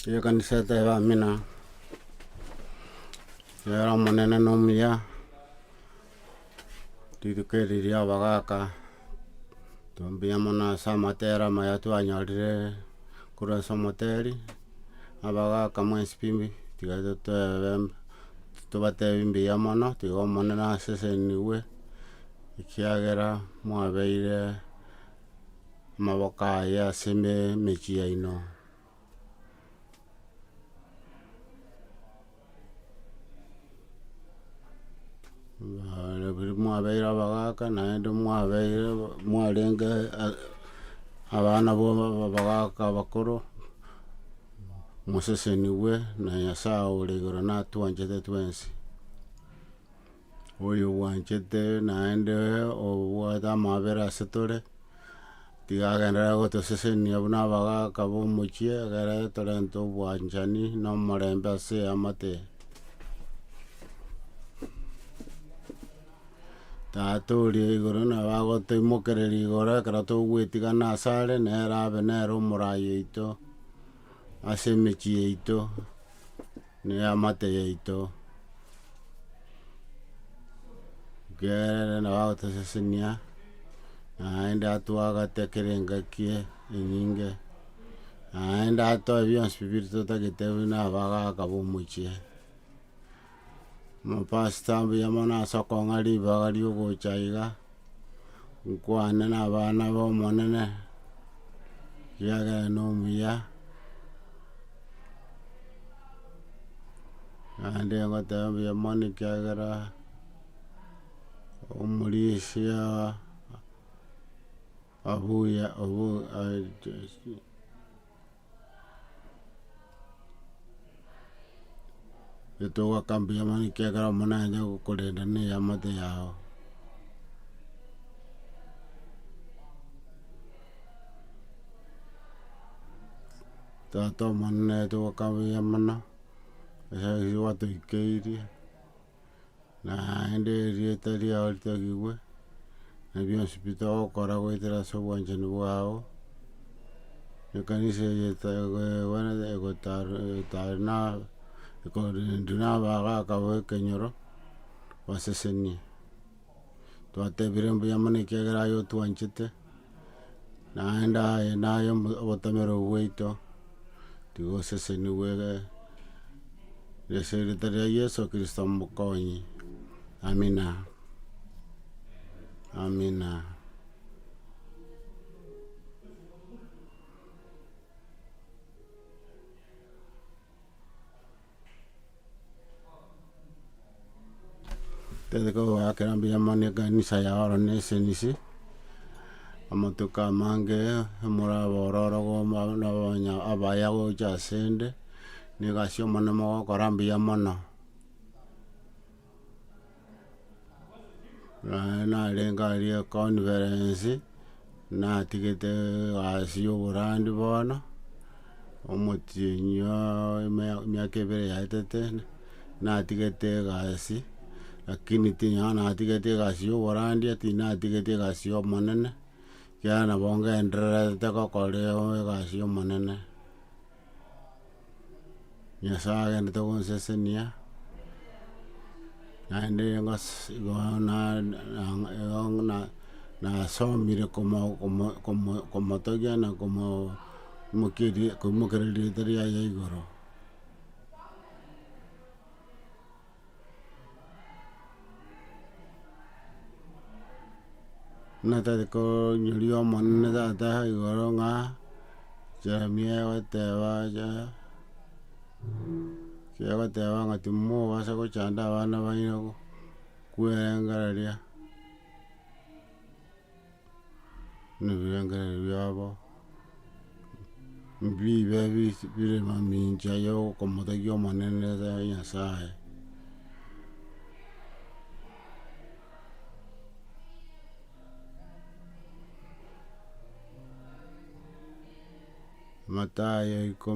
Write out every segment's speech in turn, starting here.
Ekanisa eteba amina, Nere omonene nomuya, rituko eri riabagaka, intwe mbuya mono ase amatero amaya twanyorire korwa ase omoteri, abagaka mwensi pi bi tiga totoebe tobatebi mbuya mono, tiga omonene asesenigwe, ekiagera mwabeire. amaboko aye ase emechie yaino, mwabeire abagaka naende mwabeire mwarenge abana ba abagaka abakoro, mosesenigwe na Nyasaye ore igoro natwanchete twensi. Oyobwanchete naende obwate amabera ase tore, tiga agenderere gotosesenia buna abagaka b'omochie, ekere torente obwanchani na omorembe ase eamate eye. Tata oria o igoro nabo agotoimokereria igoro ekero togwetigana asare, nere abe nere omorai oito. ase emechie yaito, na eamate yaito, ekeagera nabo agotosesenia, naende atwagate ekero engaki enyinge, naende atoe bionsi biria totagete buna abagaka ba omochie. Amapasita mbuya mono ase okong'a ribaga riogocha iga, nkwane na abana ba Omonene, ekiagera na omuya, naende ngoteba mbuya mono ekiagera omorisia abuya obu Etogoaka mbuyoma ekiagera omonene aye nagokorenda na eamate yao. Tata omonene etogoaka mbuya mono, ase ayio gwatoikeirie. naende erieta riao ritagigwe, na bionsi pi togokora goetera ase obwanchani bwao, ekanisa eye toegwenerete egotarwa etari na ekorindwa na abagaaka b'ekenyoro basesenie. twatebire mbuya mono ekiagera aye otwanchete, naende aye naye obotomerwe bwaito, tiga osesenigwe ase erita ria Yeso kristo omokonyi, amina, amina. Totete kogoakera mbuya mono ekanisa yao oro ne esenisi, amatuko amange omoraba ororo goma na abanya abaya gocha asende, na egasi y'omoremo mogokora mbuya mono. Naye narenge aria econference, natigete gasi ya oborandi bono, omotienyi oo emea- emiaka ebere yaetete, natigete egasi, lakini ting'ana natigete egasi ya oborandi ati natigete egasi ya omonene, ekiagera nabo ngendererete gokora egasi ya omonene. Nyasae agenderete gonsesenia, naende ngose igo na- na- igo na- nasomire komo- komo- komo- komotogia na komo mokeria koimokereria rieta riaye igoro. Buna tari konyori omonene tata igoro ng'a Jeremia egoteba aye egoteba ng'a timobasa gochanda abana baino kwerengereria. na ebirengererio biabo, mbibe bire mamincha ya okomotegia Omonene Nyasaye. Matayo iko-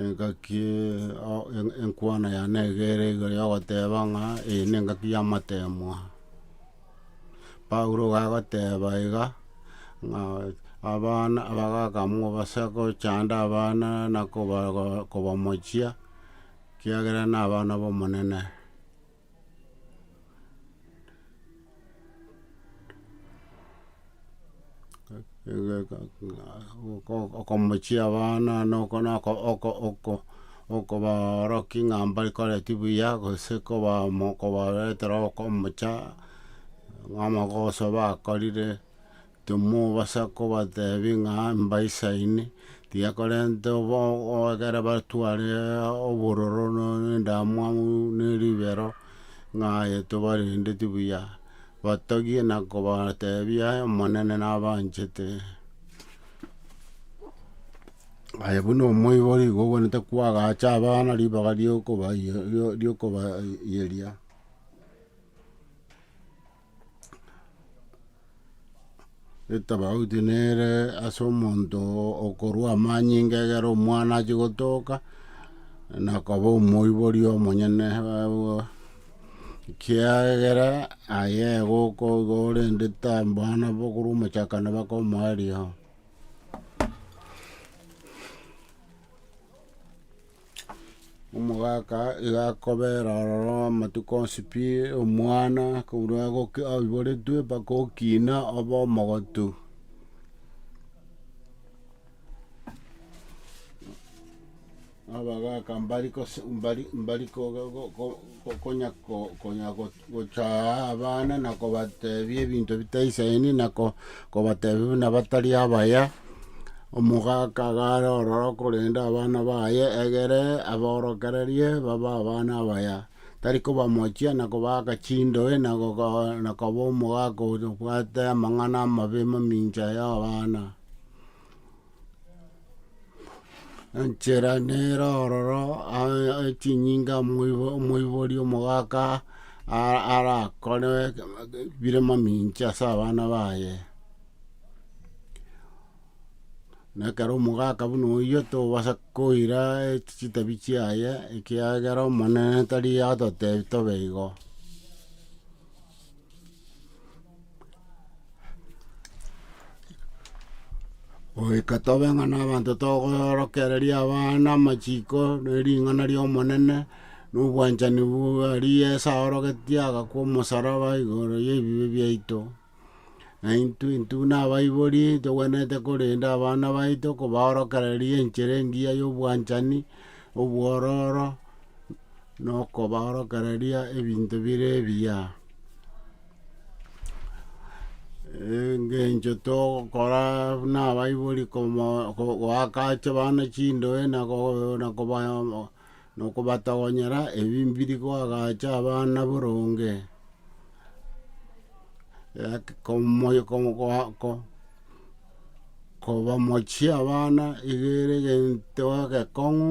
Engaki enkwana yane nigo ere igoro yogoteba ng'a eye nengaki y'amateemwa. Paulo iga agoteba iga ng'a abana abagakamwa base gochanda abana na kobamochia ekiagera nabana b'Omonene. okomochia abana noko noko oko oko okobaorokia ng'a mbari koreti buya gose koba mo kobaretera okomocha, ng'a amagoso bakorire. Timobasa kobateebia ng'a embaisa ime tiyekorenta ekero batware obororo na endamwamu na eribero, ng'a aye tobarendeti buya, batogie na kobateebia aye Omonene nabanchete. Aye buna omoibori igo ogwenerete koagacha abana ribaga riokobayeria. Etabauti nere ase omonto okorua amanyinga egere omwana achie gotoka na koba omoibori omonyene kiagera aye igo okoigwa orende abana bakorwa omochakano bakomoa rirogo. Omogaka iga akobera ororo amatuko onsi pi, omwana korwa agoki aiboretwe mpaka okina obe omogotu. Abagaka mbari kose mbari mbari koga go- go- go- konya ko- konya go. Gocha aa abana na kobatebia ebinto bitaisaini, na kobatebia buna batari abaya. Omogaka agare ororo okorenda abana baye, egere aborokererie babe abana abaya. Tari kobamochia na kobaaka chindoe na koba omogaka obwate amang'ana amabe mamincha ya abana. Enchera nere ororo aa- aa- chinyinga omoibo- omoibori omogaka a- arakore bire mamincha ase abana baye. Na ekero omogaka buna oyio tobasa koira chitabi chiaye ekiagera Omonene tari atotebi tobe igo. Goika tobe ng'a nabanto togoorokereria abana amachiko na ring'ana ri'Omonene, na obwanchani bwa ri Yeso aorogetie agakwa omosaraba igoro y'ebibe biaito. Na intwe intwe na abaibori togwenerete korenda abana baito kobaorokereria enchera engiya y'obwanchani, obwororo. nokobaorokereria ebinto bire ebiya. Engencho togokora buna abaibori komo- ko- goaka ache abana chindoe na go- na kobaya nokobatogonyera ebi mbiri koagacha abana boronge. kobamochia abana iga ere egento egekong'u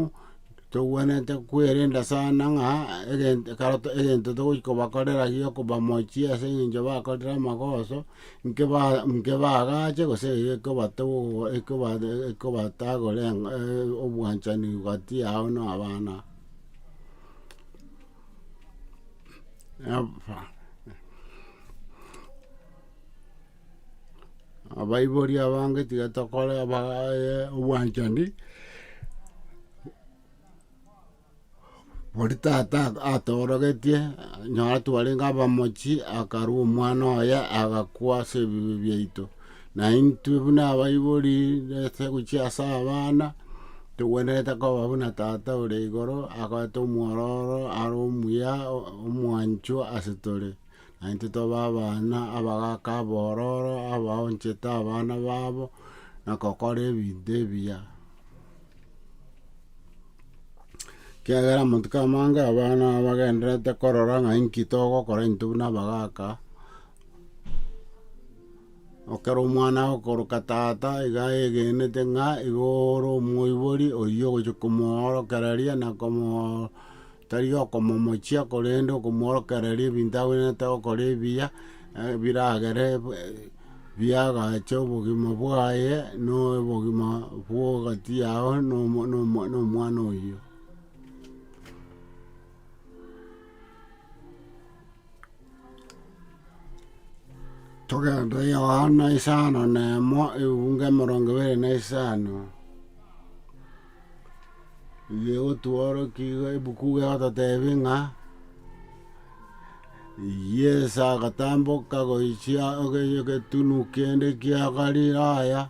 tokwenerete kwerenda sana ng'a egento ekero to egento togochi kobakorera gio kobamochia ase eng'encho bakorire amagoso, inke ba inke bagache gose gaki ekobatogo ekoba ekobatagore obwanchani gati yao na abana. abaibori abange tiga tokore abagaye obwanchani, bori tata atorogetie nonye twarenge abamochi akarwa omwana oye agakwa ase ebibe biaito. Naintwe buna abaibori, nase gochia ase abana, togwenerete koba buna Tata ore igoro akorete omwororo are omuya omwanchwa ase tore. Naintwe tobe abana abagaaka abororo, abaonchete abana babo, na gokora ebinto ebiya. Ekiagera monto kera amange abana bagendererete korora ng'a inki togokora intwe buna abagaaka. Ekero omwana agokoroka tata iga ayegenete ng'a igo ore omoibori oyio ogochia komoorokereria na komo tari okomomochia korende okomoorokereria ebinto abwenerete gokora ebiya, biragere biagache obogima bwaye na obogima bwa egati yago na omo- na omo- na omwana oyio. Togende Yohana isano na emo, ebiunga emerongo ebere na isano, igo egotworokia iga ebuku iga egototebia ng'a, Yeso agatamboka gochia egetunu kende kia Galilaya.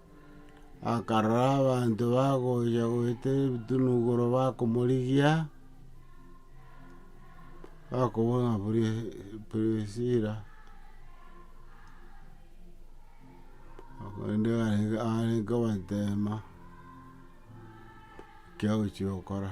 akarora abanto bagocha goetera ebitunugoro bakomorigia, bakobua ng'a Prisila korende arenge arenge kobateema ekiagochia gokora.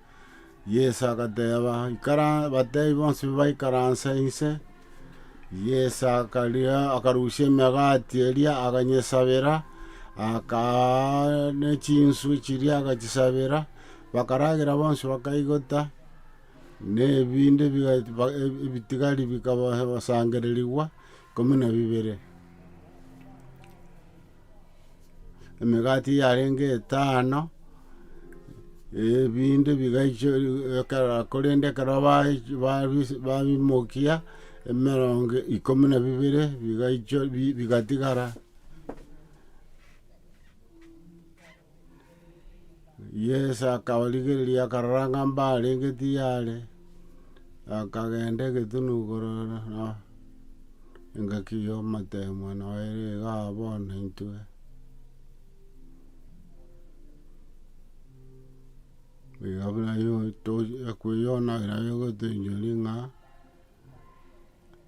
Yeso agateba, Ikara, batebi bonsi baikaranse inse. Yeso akaria, akarusia emegati eria, akanyesabera, akaa ne chinswe chiria agachisabera, bakaragera bonsi bakaigota, ne ebinde biga ba ebitigari bikaba sangererigwa ikomi na bibere. emegati yarenge etano, ebinde bigaicho ekero korende ekero baechi- babis- babimokia, emerongo ikomi na bibere bigaicho bi- bigatigara. Yeso akabarigereria, akarora ng'a mbarenge tiyare, akagenda egetuni korora ng'a engaki y'omotemwa noyo ere iga aa bono intwe. Iga buna yonto ekweyona nayo egotencheri ng'a.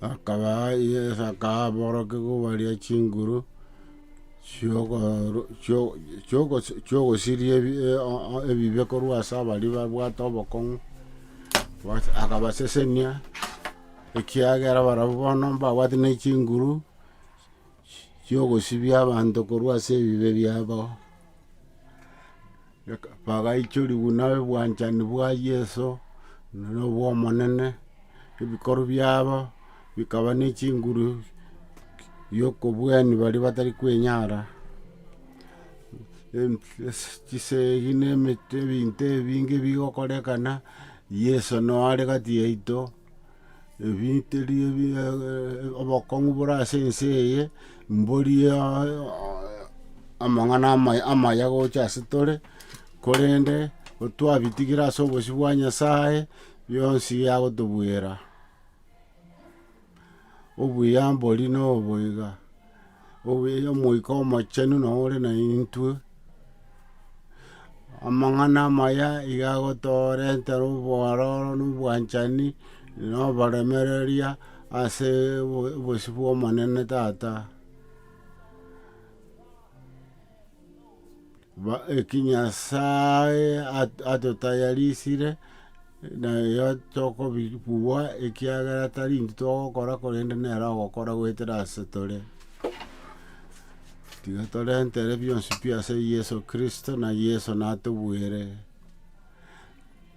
Akabaa, Yeso akaa aborokigwa baria chinguru chi'okoru- chio- chi'ogosi- chi'ogosiria ebi- e- o- o- ebibe korwa ase abaria babwate obokong'u, bas akabasesenia, ekiagera barabwo bono mbabwate ne chinguru. chi'ogosibia abanto korwa ase ebibe biabo, bagaichorigwa na obwanchani bwa Yeso, na obw'Omonene, ebikorwa biabo bikaba ne chinguru y'okobuani baria batari kwenyara, chisegi na ebinto ebinge bigokorekana, Yeso noyo are gati yaito. Ebiterio bie obokong'u bore ase ense eye, mborie amang'ana amaya amaya gocha ase tore, korende gotwabitigire ase obosio bwa Nyasaye, bionsi agotobwera. Obuya mbori nobo iga, obuya Omoika Omochenu noyo ore naintwe, amang'ana amaya iga agotorentera obwororo na obwanchani na oboremereria ase obo- obosio bwa Omonene tata. Eki Nyasae atotayarisire, naye tokobua, ekiagera tari intwe togokora, korende nere ogokora goetera ase tore. Tiga torentere bionsi pi ase Yeso Kristo, na Yeso natobuere.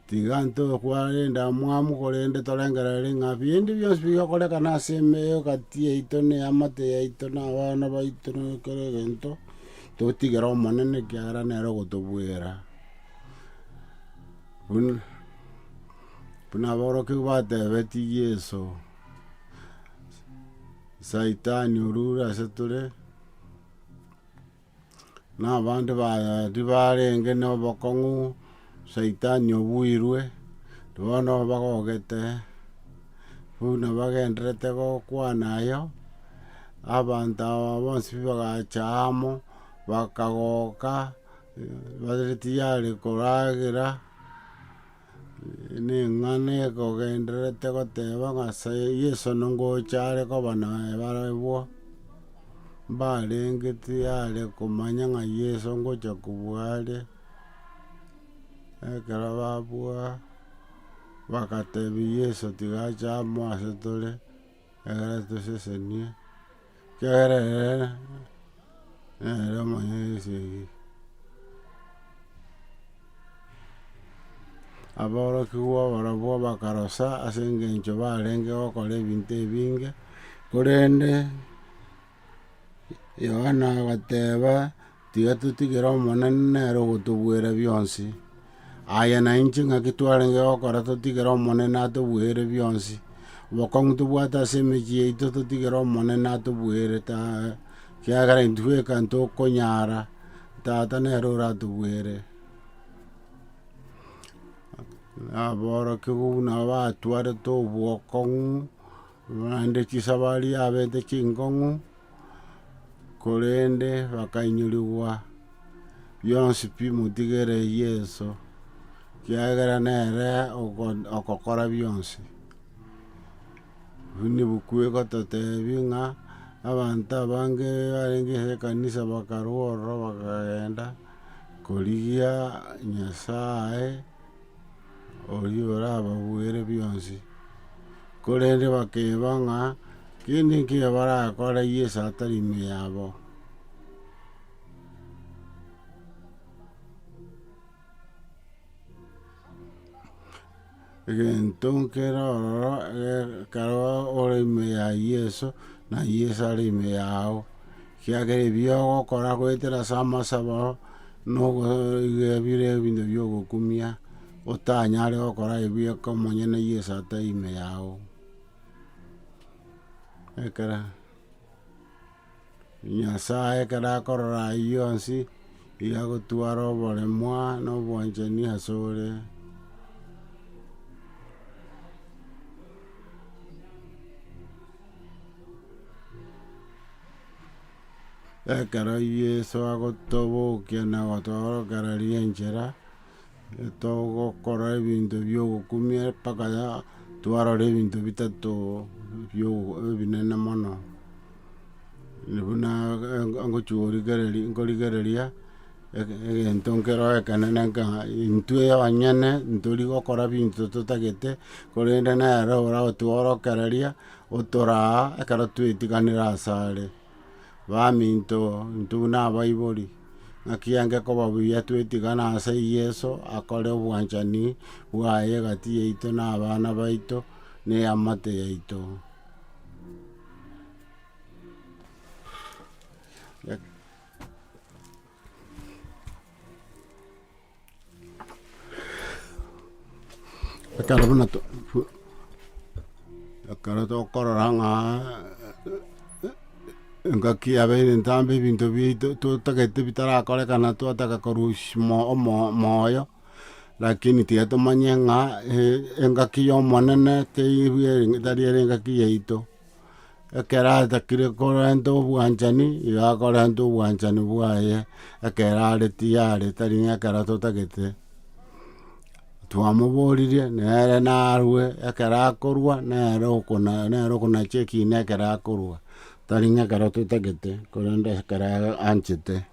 Tiga tokware endamwamu, korende torengerere ng'a binde bionsi bigokorekana ase emeyo egati yaito na eamate yaito na abana baito na kera egento, totigere Omonene, ekiagera nere ogotobuera. Buna buna aborokigwa batebetie Yeso, Saitani orure ase tore. na abande baye tibarenge nobokong'u, Saitani obuirwe, bono bagogete, buna bagendererete gokwana ayo, abanto aba bonsi pi bagacha amo, bakagoka, bare tiyari koragera. Ning'ana ekogendererete goteba ng'a ase Yeso nongocha are koba naye barabwo? Mbarengeti are komanya ng'a Yeso ngocha kobua are, ekero babua, bagatebia Yeso tiga ache amo ase tore. Ekero toseseniee, ekiagera ere nere omonyene bwa esegi. Aborokigwa barobwo bakarosa ase engencho barenge gokora ebinto ebinge, korende Yohana agateba, Tiga totigere Omonene nere ogotobwera bionsi. Aye na inche ng'aki twarenge gokora totigere Omonene atobweire bionsi? Obokong'u tobwate ase emechie yaito totigere Omonene atobweire taa, kiagera intwe eka ntokonyara, Tata nere oratobwere. Naborokigwa buna abatwarete obokong'u. Naende chisabari yabete chinkong'u, korende bakainyorigwa bionsi pi motigere Yeso, ekiagera nere ogo- ogokora bionsi. Buna ebuku egototebi ng'a abanto abange barenge ase ekanisa bakarwa ororo bakagenda korigia Nyasae. oria orababuere bionsi. Korende bakeba ng'a kende nkeiyo barakore Yeso atari ime yabo. egento nkere ororo ekero ore ime ya Yeso, na Yeso are ime yao. Ekiagera ebi ogokora goetera ase amasabo, na ogoiga bire ebinto bia ogokumia, otanyare gokora ebi eke omonyene Yeso atari ime yao. Ekero Nyasaye ekero akorora ayio onsi, igo agotwara oboremwa na obwanchani ase ore. Ekero Yeso agotobokia na gotoorokereria enchera, togokora ebinto biogokumia mpaka ya twarora ebinto bitato bio ebinene mono. Buna ngochia gorigereria nkorigereria ege- egento nkero ekenene nka intwe abanyene ntori gokora binto totagete, korende nere oragotworokereria Otoraa ekero twetiganire ase are. Baminto, intwe buna abaibori, ng'aki enge koba buya twetigane ase Yeso akore obwanchani bwaye egati yaito na abana baito na eamate yaito. Ekero buna to- to- ekero tokorora ng'a engaki yabeire entambe ebinto biaito totagete bitarakorekana twataka korusia omo- omo- omoyo, lakini tiga tomanye ng'a engaki ya Omonene teibu ere tari ere engaki yaito. Ekero atakire korenta obwanchani, igo akorenta obwanchani bwaye ekero are tiyari, tari ng'a ekero totagete. Twamoboririe nere narue, ekero akorwa nere okona nere okonacha ekiina ekero akorwa, tari ng'a ekero totagete, korende ekero anchete.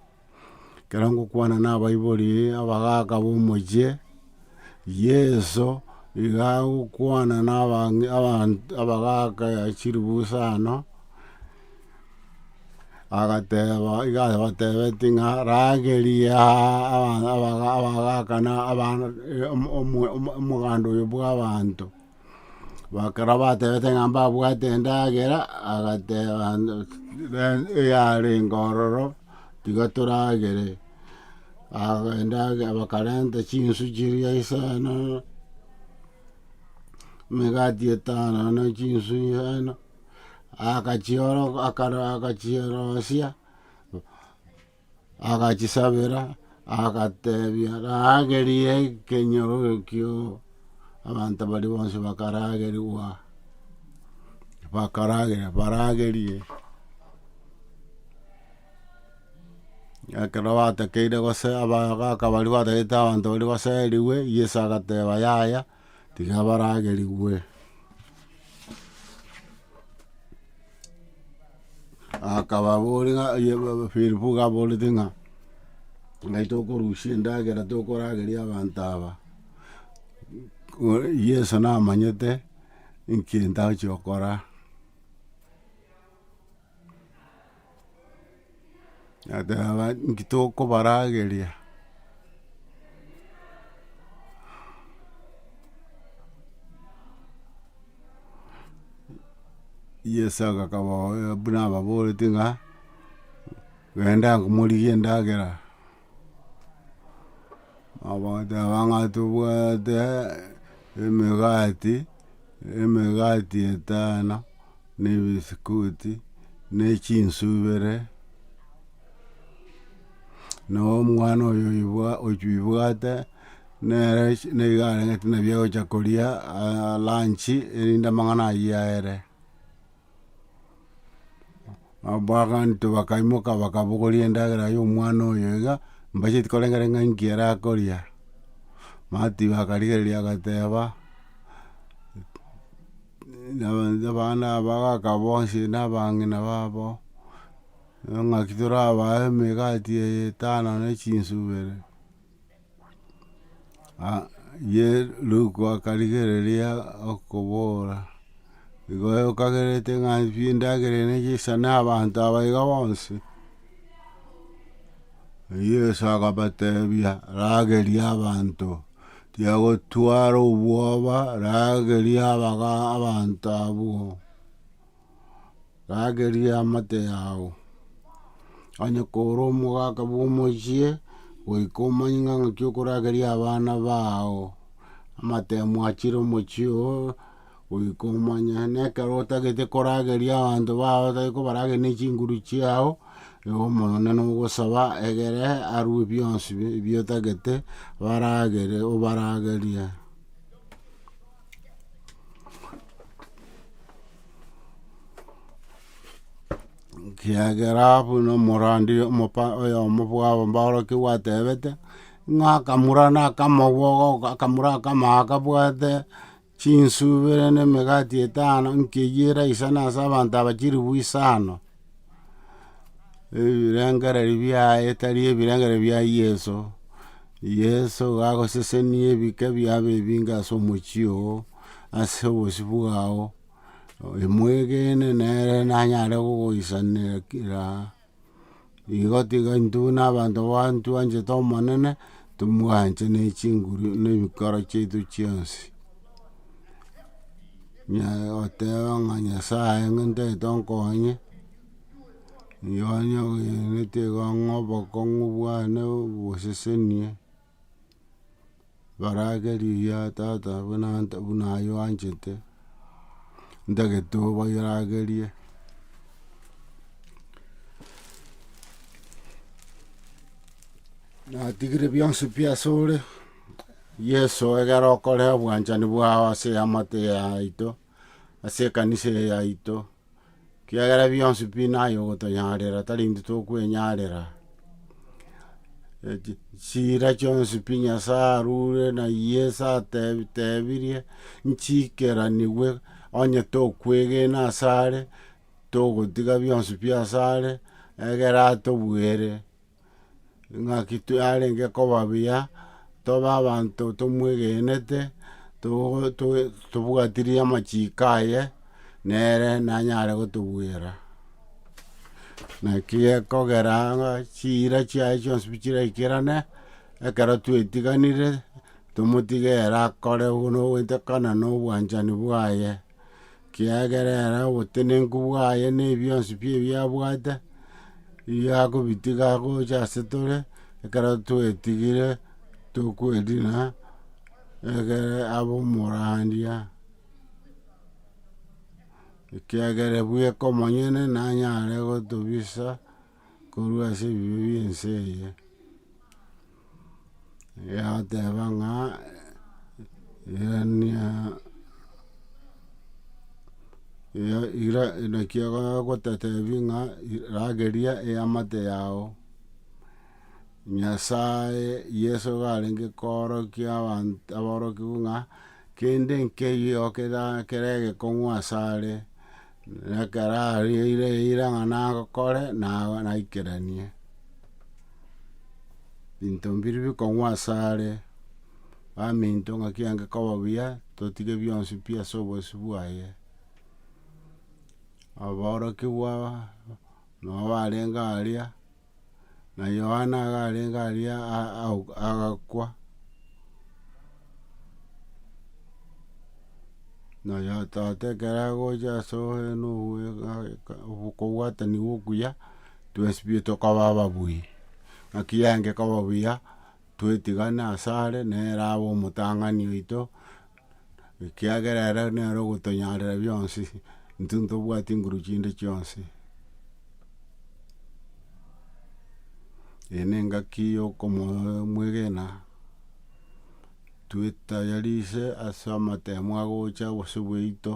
Ekero ngokwana na abaibori abagaaka b'omochie, Yeso iga agokwana na abang'e abanto abagaaka ya chiribusa ano, agateba iga abatebetie ng'a ragerie aa abagaaka na abana omwa omoganda oyo bwa abanto. Ekero batebete ng'a mbabwate endagera, agateba eyarenge ororo tiga toragere, aga endagera bakarenta chinsu chiria isano, emegati etano na chinsu isano, akachioroka akara akachirosia Agachisabera, agatebia, Rageria ekenyoro ekio. Abanto baria bonsi bakaragerigwa, bakarageria, baragerie. Ekero batakeire gose abagaka baria batagete abanto baria baserigwe, Yeso agateba, Yaya, Tiga baragerigwe akababoria ng'a Filipo gaborete ng'a ngai tokorusia endagera tokorageria abanto aba Yeso namanyete ekero agochia gokora. Natereba inki tokobarageria Yeso akababoria buna ababorete ng'a, genda morigie endagera. Bagoteba ng'a tobwate emegati, emegati etano, na ebisikuti, ne chinsu ibere, na omwana oyo oyobwa ochuibwate nere echi niga arenge buna agocha koria aa lanchi erinde amang'ana ayio aere. Abagaanto bakaimoka bakabogoria endagera y'omwana oyo iga, mbacheti koreng'areng'a inki arakoria. Mati bakarigereria agateba, abana aba bagaka bonsi na abang'ina babo, ng'aki torabae emegati eye etano ne chinsa ibere. Ye Luke akarigereria okobora, igo okagerete ng'a pi endagera ere necha isa na abanto aba iga bonsi? Yeso akabatebia, ragerie abanto, tiyagotwara obwoba, ragerie abaga abanto abwo. rageria amate yao, onye kore omogaka bwomochie, goika omanye ng'a ng'aki okorageria abana bao, amate mwachire omochie oo, goika omanye na ekero otagete korageria abanto bao otari kobarageria ne chinguru chiao, nigo omonene ogosaba egere arue bionsi bi- biotagete baragere obaragerie. Ekiagera buna omorandi omopa oyomo bwabo mborokigwa gwatebete, ng'a akamura na akamogo goka akamura akamago akabwate chinswe ibere na emegati etano, nkeywo eraisana ase abanto aba chilifu isano. Ebirengererio biaye tari ebirengererio bia Yeso, Yeso gagosesenia ebike biabo ebinge ase omochie oo, ase obosio bwao, mwegene nere nanyare gogoisanera kira, igo tiga intwe na abanto bantwanchete Omonene, tomwanche ne chinguru ne ebikoro chiaito chionsi. Oteba ng'a Nyasae ng'a ntagete onkonye, riria onye ogenete igo ng'a obokong'u bwane bosesenie, barake rigiya tata buna nta buna aye oanchete, ntagete oboiragerie, natigire bionsi pi asore. Yeso, egera okore obwanchani bwao ase eamate yaito, ase ekanisa eye yaito, kiagera bionsi pi naye ogotonyaarera, tari intwe tokwenyaarera. Echi- chiira chionsi pi Nyasae arure na Yeso atebi- tebirie, nchiikeranigwe onye tokwegena ase are, togotiga bionsi pi ase are, egere atobuere. Naki yarenge koba buya, tobe abanto tomwegenete, to- to- tobwatirie amachiko aye, nere nanyare gotobwera. Naki gekogera ng'a chiira chiaye chionsi pi chiraikerane, ekero twetiganire, tomotige ere akore buna ogwetekana na obwanchani bwaye. kiagera ere obotenenku bwaye na ebionsi pi ebi abwate, riria akobitiga agocha ase tore, ekero twetigire tokwedina, egere abe omorandia, ekiagera bweka omonyene nanyare gotobisa. korwa ase ebibe bie ense eye, yateba ng'a naki egotetebi ng'a rageria eamate yao, Nyasaye, Yeso iga arenge koorokia abanto aborokigwa ng'a. Kende nkeyio kere egekong'u asare, na ekero areire eira ng'a nagokore, naikeranie. Binto mbiri bikong'u asare, baminto ng'aki ere koba buya, totige bionsi pi ase obosio bwaye. Aborokigwa, nabo barenge aria. na Yohana iga arenge aria a- a- agakwa, na oyototo ekero agocha ase okobwatani gwa okuya, twesibie tokaba ababui, naki yaengeka obuya, twetigane asare, nere abe omotang'ani oito. Ekiagera ere nere ogotonyarera bionsi, intwe ntobwati nguru chinde chionsi. Eye ne engaki yo okomo mwegena, twetayarise ase amatemo agocha gose bwaito,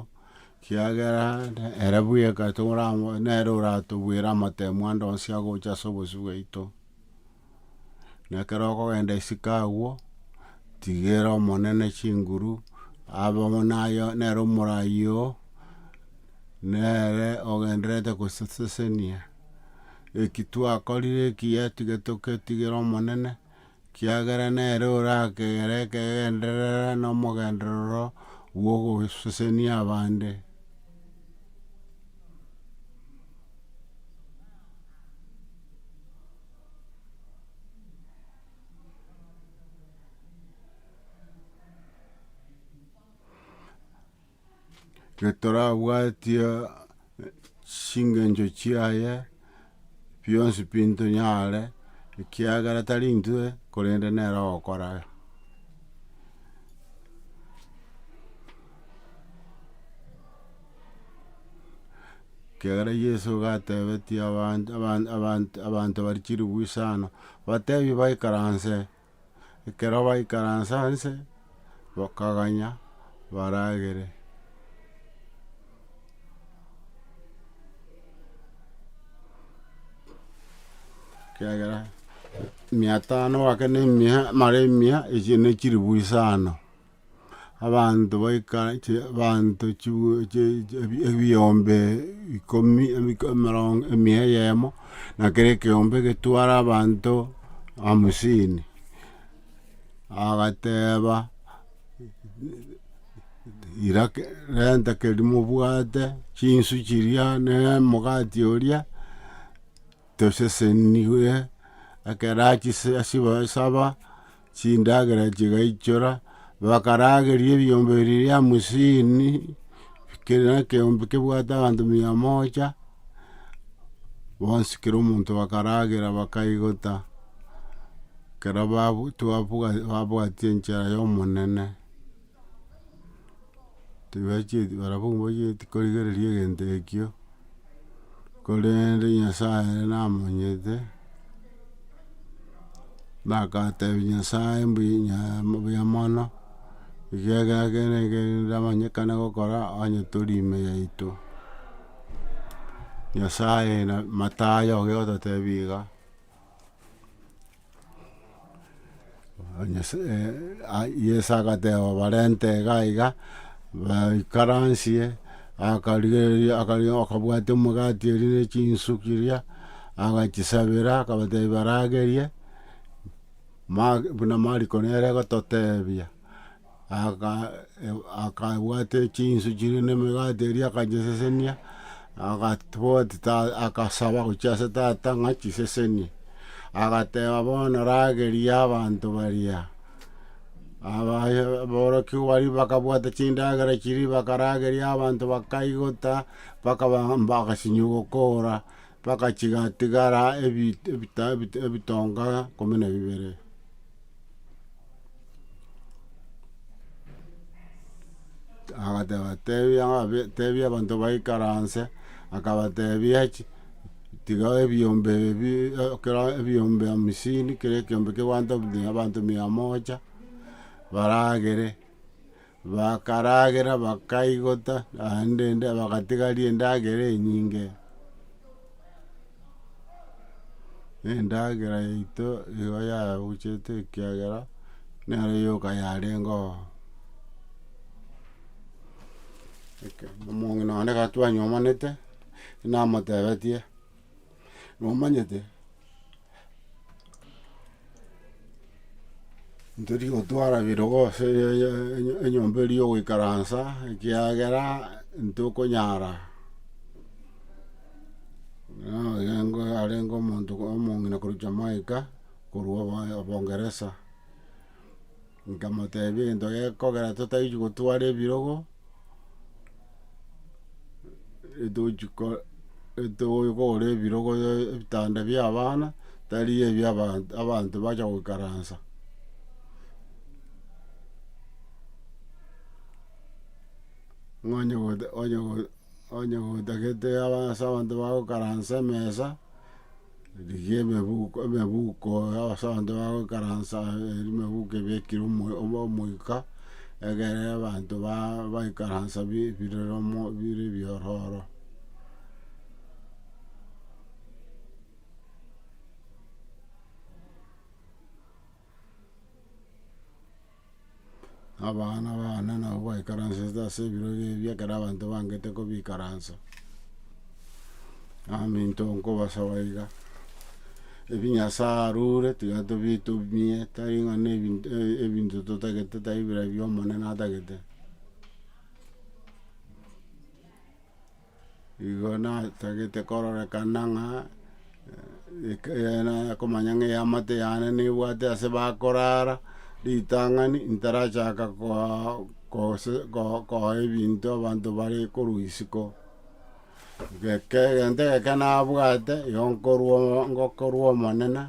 kiagera ere bweka nere oratobwera amatemo ande onsi agocha ase obosio bwaito. nekero okogenda isiko agwo, tigera Omonene chinguru, abe amo naye nere omoraai oo, nere ogendererete gosesesenia eki twakorire ekiya tiga togetigere Omonene, kiagera nere orakegere ekegendererwa na omogenderero bwa ogosesenia abande. getorabwatie chingencho chiaye bionsi pi ntonyare, ekiagera tari intwe korende nere ogokora. Ekiagera Yeso nigo atebetie abanto abanto abanto abanto baria chilifu isano, batebie baikaranse, ekero baikaranse nse, bakaganya baragere. ekiagera mia tano gwakerire mia mara mia echio ne chilifu isano. abanto baika chi abanto chibwi chi chi ebi ebiyombe ikomi ebiko emerongo emia eyemo, na kera ekeyombe getware abanto hamsini. Agateeba, ira ke renta keria mobwate, chinsu chiria, na omogati oria, toseseniwe, ekero achise asiba saba. chindagera chigaichora, bakarageria ebiombe biria bia hamsini, kera ekeombe kebwate abanto mia moja, bonsi kera omonto bakaragera bakaigota, kera babu- twabua- babwatia enchera ya Omonene. tibachieti barabwo mbachieti korigereria egento ekio, korende nyasaye ere namanyete, nagatebia nyasaye mbuya nyaa mbuya mono, ekiagera kende kende ndamanyekana gokora onye tori ime yaito, nyasaye na matayo oge ototebia iga. Yeso agateba barente iga iga, baikaransie, akarigereria akarigereria akabwatia omogati oria ne chinsuki chiria, agachisabera akabatebia baragerie, buna mariko nere agototebia. Akabwata chinsu chiria na emegati eria akanyesesenia, agasaba gochia ase tata ng'a chisesenie, agateba bono rageria abanto baria, aborokigwa baria bakabwata chindagera chiria bakarageria abanto bakaigota, mpaka bagasinywa gokora, mpaka chigatigara ebitonga ikomi na bibere. agateba tebia ng'abe tebia abanto baikaranse, akabatebia chi tiga ebiombe ebi ekero ebiombe hamsini kera ekiombe kegwantobi abanto mia moja baragere. Bakaragera, bakaigota, naende ende bagatigaria endagera enyinge. Endagera yaito nigo yagochete ekiagera nero yoka yarengo oo. Eke, omong'ina one gatwanyomanete, namotebetie. nomanyete ntori gotwara ebirogo ase enyomba eria ya ogoikaransa, ekiagera ntokonyara nigo arenge omonto omong'ina korwa jamaica korwa obongeresa. Nkamotebia, egento gekogera totagochi gotwara ebirogo, etogochi ko- etogochi kogora ebirogo ebitanda bia abana, tari ebia abanto abanto bacha goikaransa. Nonya goeta onya go onya goeta gete aba ase abanto bagokaransa emesa. Rigia emebuko emebuko y'abasaonte bagoikaransa eri emebuko ebekire omo omo omoika, egere abanto ba baikaransa bi birere omo bire ebiororo. na abana bane nabo baikaransete ase ebiro ebi ebi ekero abanto bangete kobikaransa, naminto nkobasaba iga, ebi nyasae arure tiga tobi tobie tari ng'a na ebinto ebinto totagete tari bire ebio omonene atagete. Igo natagete kororekana ng'a eke nakomanya ng'a eamate yane nebwate ase bakorara, ritang'ani ntarachaka koa- kose ko- koa ebinto abanto bare korwa isiko. Geke egento egeke nabwate, igo nkorwa omo- ngokorwa omonene.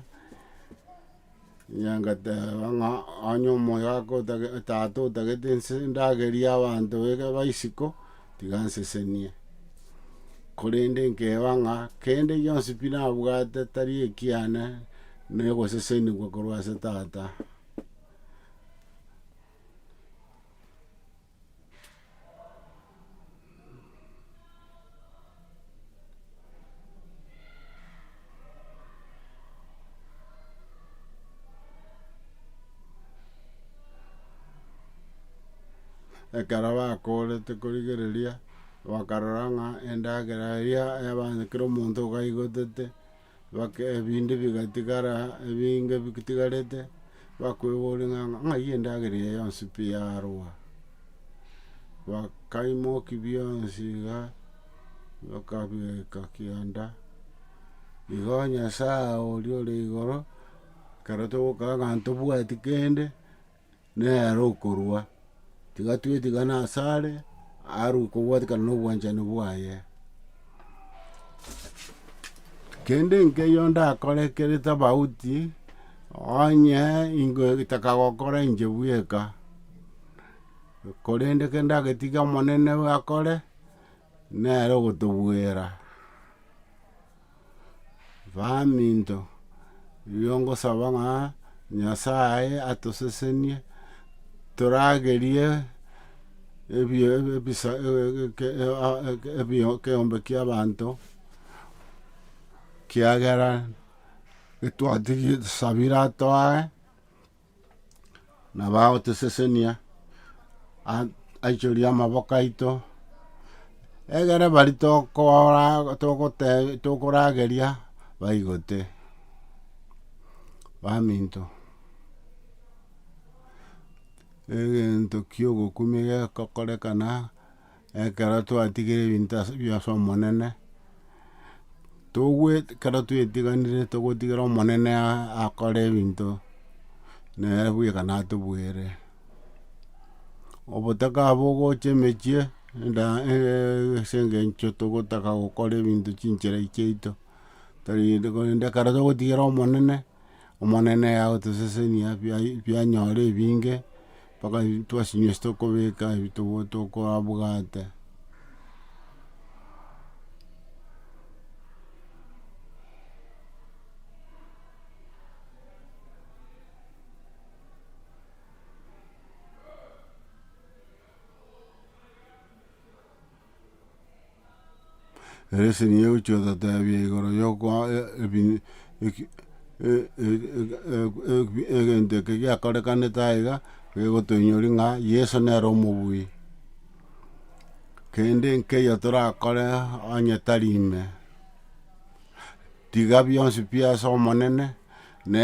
Nyageteba ng'a onye omoyo ake otage tata otagete nse ndagerie abanto beke ba isiko, tiga ansesenie. Korende nkeba ng'a kende gionsi pi nabwate tari ekiane, na ogosesenigwa korwa ase tata. Ekero bakoorete korigereria, bakarora ng'a endagera eria yabanywa kera omonto okaigotete. Ebinto bigatigara, ebinge bitigarete, bakweboria ng'a ng'ai endagera eye yonsi pi yarwa? Bakaimoki bionsi iga, bakabireka kianda, igo Nyasae oria ore igoro, ekero togokaa ng'a ntobwati kende. nere okorua, tiga twetigane asare, arue kobwatikana nobwanchani bwaye. Kende nkeiyo ndakore ekere tofauti, onye ingo etaka gokora inche bweka, korende kende ndagetigia omonene akore. Nere ogotobwera, Baminto, erio ngosaba ng'a Nyasae atosesenie toragerie ebio ebisa ekeombe kia abanto, kiagera getwatigie tusabire atoe. nabo agotosesenia, aichorie amaboko aito, egere baria tokorageria baigote, baminto, egento kiogokumia gegokorekana. Ekero twatigire ebinto ase bi ase Omonene, togwe ekero twetiganire togotigera Omonene akore ebinto, nere bweka natobweire. Obotaka abo ogocha emechie enda ase eng'encho togotaka gokora ebinto chinchera chiaito, tari korende ekero togotigera Omonene. Omonene agotosesenia ebianyore ebinge, mpaka twasinyweswa tokobeka ebio tokorabwate. Lesson ya gochia otatebia igoro ya okoa ebin eki egento eke giakorekanete aye iga gegotoinyoria ng'a Yeso nere omobui. Kende nkeiyo torakore onye tari ime, tiga bionsi pi ase Omonene, na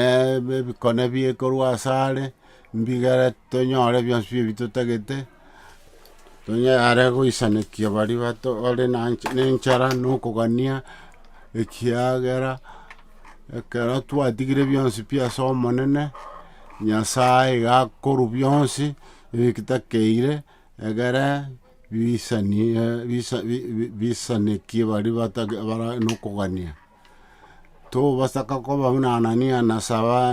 ebikone biekorwa asare, mbigere tonyore bionsi pi ebitotagete. Onye are goisanekia baria bato ore nenchara na okogania, ekiagera ekero twatigire bionsi pi ase Omonene, Nyasaye iga akorwa bionsi ebitakeire, egere bisani bisanekie baria bata bare nokogania. Togosaka koba buna Anania na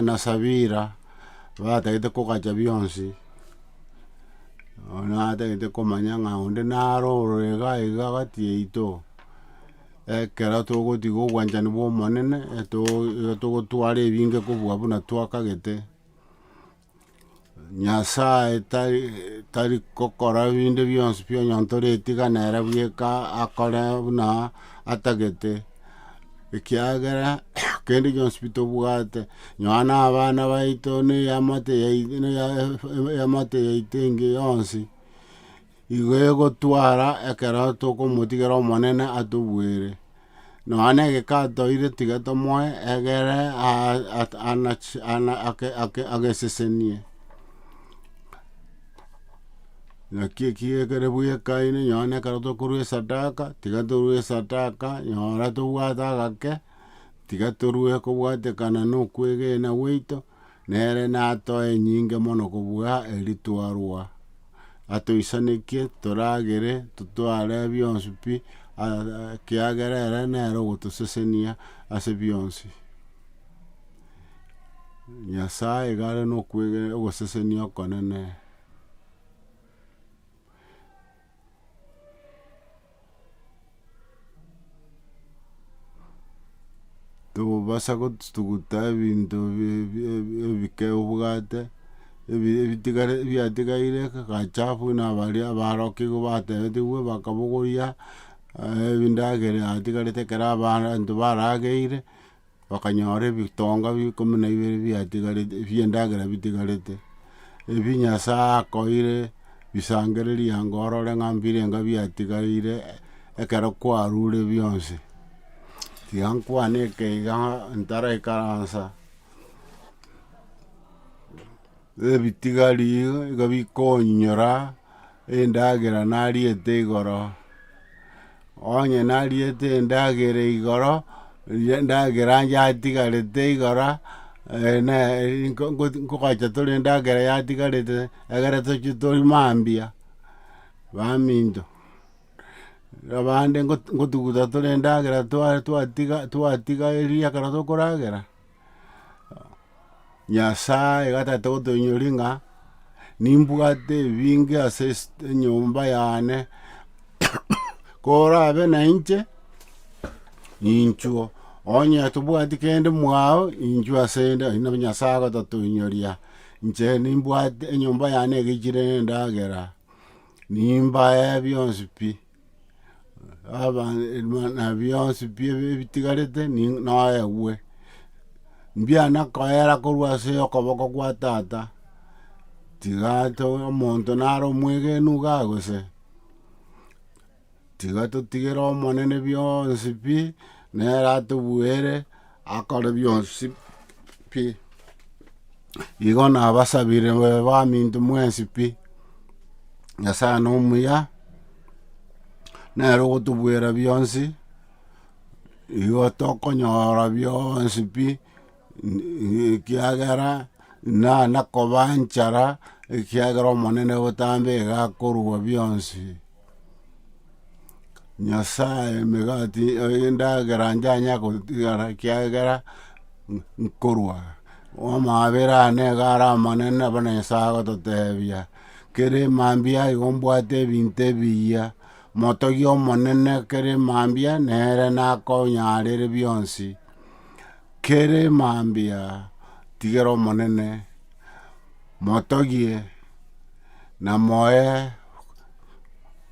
na Safira, batagete kogacha bionsi, nonya atagete komanya ng'a onde naro ororo iga iga gati yaito, ekero togotiga obwanchani bw'Omonene, eto- etogotwara ebinge kobua buna twakagete. Nyasae tari tari gokora binde bionsi bi onyontore tiga nere bweka akore buna atagete, ekiagera kende gionsi bi tobwate nonya na abana baito na eamate yai- na eamate yaito enge yonsi. Igo egotwara ekero tokomotigera Omonene atobuere. Nonya negeka atoire tiga tomoe egere agesesenie. Naki eki ekere bwekaine nonya ne ekero tokorwa esadaka, tiga torwe esadaka nyora tobwate agake, tiga torwe kobwatekana nokwegena gwaito. Nere natoe enyinge mono kobua eri twarwa, atoisanekie toragere totware bionsi pi, ekiagera ere nere ogotosesenia ase bionsi. Nyasae iga are nokwegena ogosesenia okonene. Tokobasa gotuguta ebinto bi- bi- bi- ebike obwate, ebi- ebitigare ebiatigaire gachafu buna abaria abarokigwa batebetigwe bakabogoria, ebindagera yatigarete ekero abaanto barageire. Bakanyora ebitonga ikomi na ibere biatigarete ebi'endagera bitigarete, ebio Nyasae akoire bisangererie ango orore ng'a mbirenga biatigaire ekero kwarure bionsi. Tiga nkwane ekeiga ntaraikaransa. Ebitigari igo bikonyora endagera nariete igoro. Onye nariete endagera igoro, eria endagera yatigarete igoro, nkogacha tore endagera yatigarete, egere tochie tori mambia, baminto. Abande ngotuguta tore endagera twa- twatiga- twatiga eria ekero tokoragera. Nyasae gatete gotoinyori ng'a nimbwate ebinge ase enyomba yane, korabe na inche ninchuo, onye tobwati kende mwao inchuo ase inde, oyio nabo Nyasae agototoinyoria, inche nimbwate enyomba yane egechire na endagera, nimbae bionsi pi. na bionsi pi ebitigarete ni- noegwe, mbiana koera korwa ase okoboko gwa tata, tiga to omonto naro omwegenu igaa gose, tiga totigere omonene bionsi pi, nere atobuere. Akore bionsi pi. Igo nabasabire babe baminto mwensi pi. Nyasae nomuya, nere ogotobwera bionsi, igo tokonyora bionsi pi, ekiagera. na nakoba enchara, ekiagera Omonene botambe egakorua bionsi. Nyasae emegati endagera njanya gotigara ekiagera nkorua, amaabera ane iga are amanene buna Nyasae agototebia, kere mambia igo mbwate ebinto ebiya, motogie Omonene kere mambia nere nakonyarire bionsi. Kere mambia tigera Omonene, motogie na moe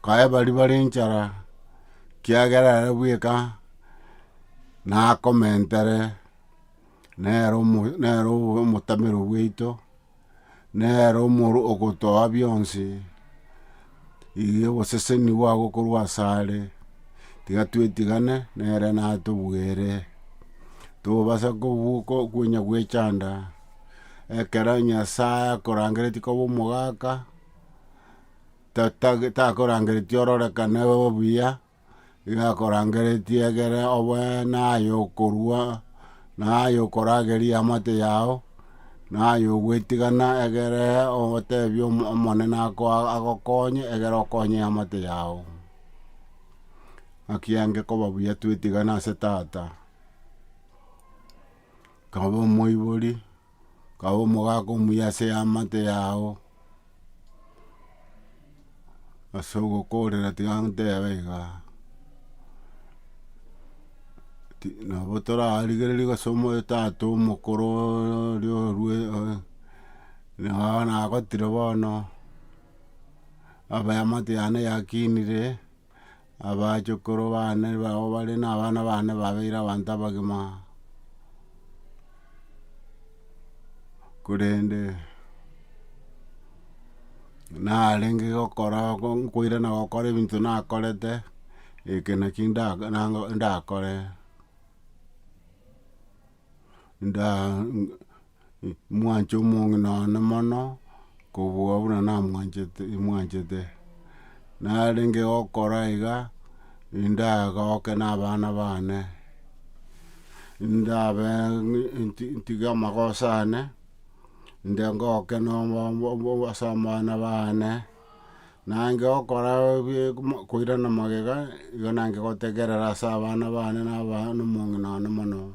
koe baria bare enchara, ekiagera ere bweka nakomentere, nere omo nere omotamero bwaito. nere omoro ogotoa bionsi, iga oboseseni bwa gokorwa asare, tiga twetigane nere natobwere, tobasa kobuko konya gwechanda, ekero Nyasaye akorangeretie koba omogaka, tata takorangeretie ororekane obuya. igakorangeretie egere obe naye okorua, naye okorageria eamate yao, naye ogwetigana egere otebi omo- omonene ako- a- agokonye egere okonye eamate yao. Naki enge koba buya twetigane ase tata, kaba omoibori. kaba omogaka omuya ase eamate yao, ase ogokorera tiga ntebe iga, ti- nabo torarigereria gose omotato omokoro oria orue nigo bono nagotire bono, aba eamate yane yakinire. abachukuru bane bao bare na abana bane babeire abanto abagima, korende narenge gokora nkoirana gokora ebinto nakorete, eke naki nda- nda- ndakore. mwanche omong'ina one mono, kobua buna namwanchete mwanchete. Narenge gokora iga, nindagoke na abana bane, ndabe nti- ntige amagoso ane, nde ngoke ase abana bane. Nange gokora koirana magega, igo nange gotegerera ase abana bane na omong'ina one mono.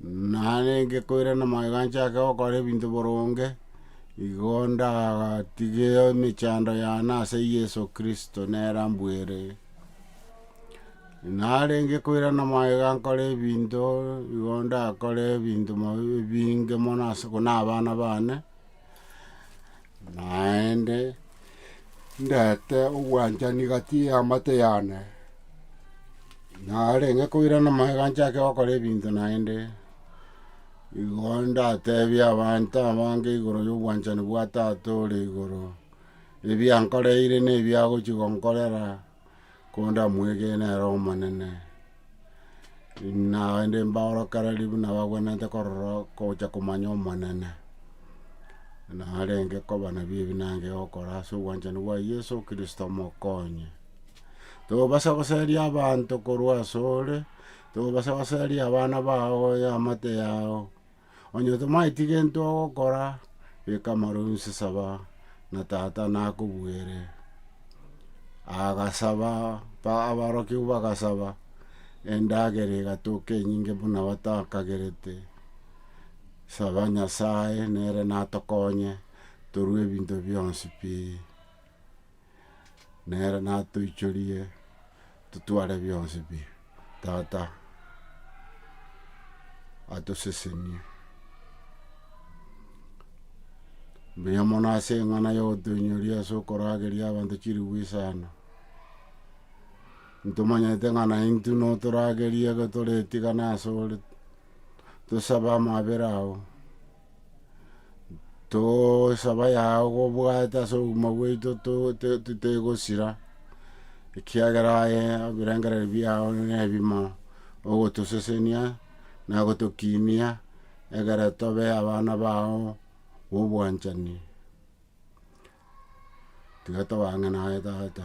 Narenge koirana magega nchake gokora ebinto boronge, igo ndagatige emechando yane ase Yeso Kristo nere ambwere. Narenge koirana magega nkore ebinto, igo ndakore ebinto ebinge mono ase buna abana bane, Naende ndete obwanchani gati y'amate yane, narenge koirana magega nchake gokora ebinto naende, igo ndatebie abanto abange igoro y'obwanchani bwa Tata ore igoro, ebia nkoreire na ebia agochia gonkorera, kondamwegene ere Omonene, naende mbaorokereri buna bagwenerete korora gocha komanya Omonene, narenge koba nabii ebi narenge gokora ase obwanchani bwa Yeso Kristo omokonyi. Tobasa goseria abanto korwa asore, tobasa goseria abana bao, eamate yao. Onye tomaeti gento ogokora, beka amaronsi saba, na Tata nakobuere. Agasaba, abarokigwa bagasaba, endagera egatoka enyinge buna batakagerete, saba Nyasae nere natokonye torwe ebinto bionsi pi. nere natoichorie totware bionsi bi tata atosesenie. Mbuya mono ase eng'ana ya ogotoinyoria ase okorageria abanto chilifu isano, ntomanyete ng'a naintwe notoragerie ekero toretigana ase ore, tosabe amabera ao. Tosaba yao gobwate ase obogima bwaito totegosira, ekiagera aye ebirengererio biao nebimo, ogotosesenia, na gotokinia, egere tobe abana bao bobwanchani. Tiga tobang'ane aye tata.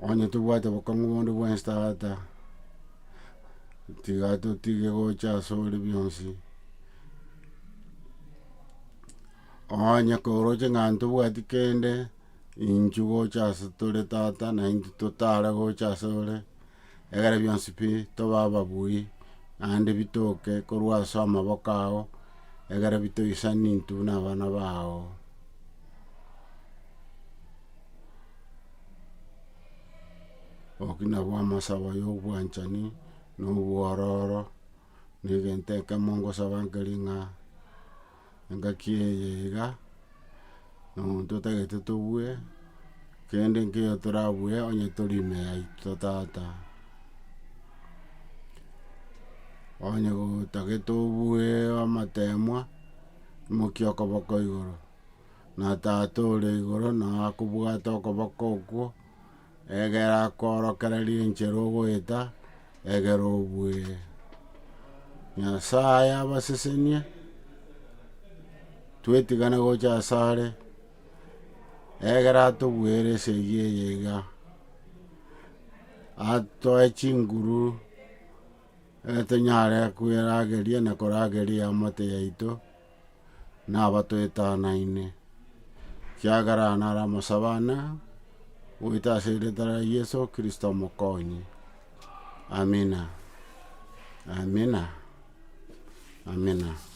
Onye tobwate obokong'u bonde bwensi tata, tiga totige gocha ase ore bionsi. Onye koroche ng'a ntobwati kende, inchu gocha ase tore tata, naintwe totare gocha ase ore, Egere bionsi pi tobe ababui, naende bitoke korwa ase amaboko ao, egere bitoisani intwe buna abana bao. Oki nabwo amasabo ya obwanchani, na obwororo, na egento ekemo ngosaba nkereng'a. engaki eye iga, na omonto otagete tobue, kende nkeiyo torabue onye tori ime yaito tata. Onye otagete obue amatemwa, imokia okoboko igoro, na tata ore igoro nao akobwate okoboko okwo, Egera korokera riinche rogoeta, egera obue Nyasae abasesenie, twetigane gocha asare, egera atobuere esegi eye iga, atoe chinguru, egetonyare kwerageria na korageria eamate yaito. nabatwetanaine, ekiagera naramosabana goita ase eritwa ria Yeso Kristo Omokonyi. Amina, amina, amina.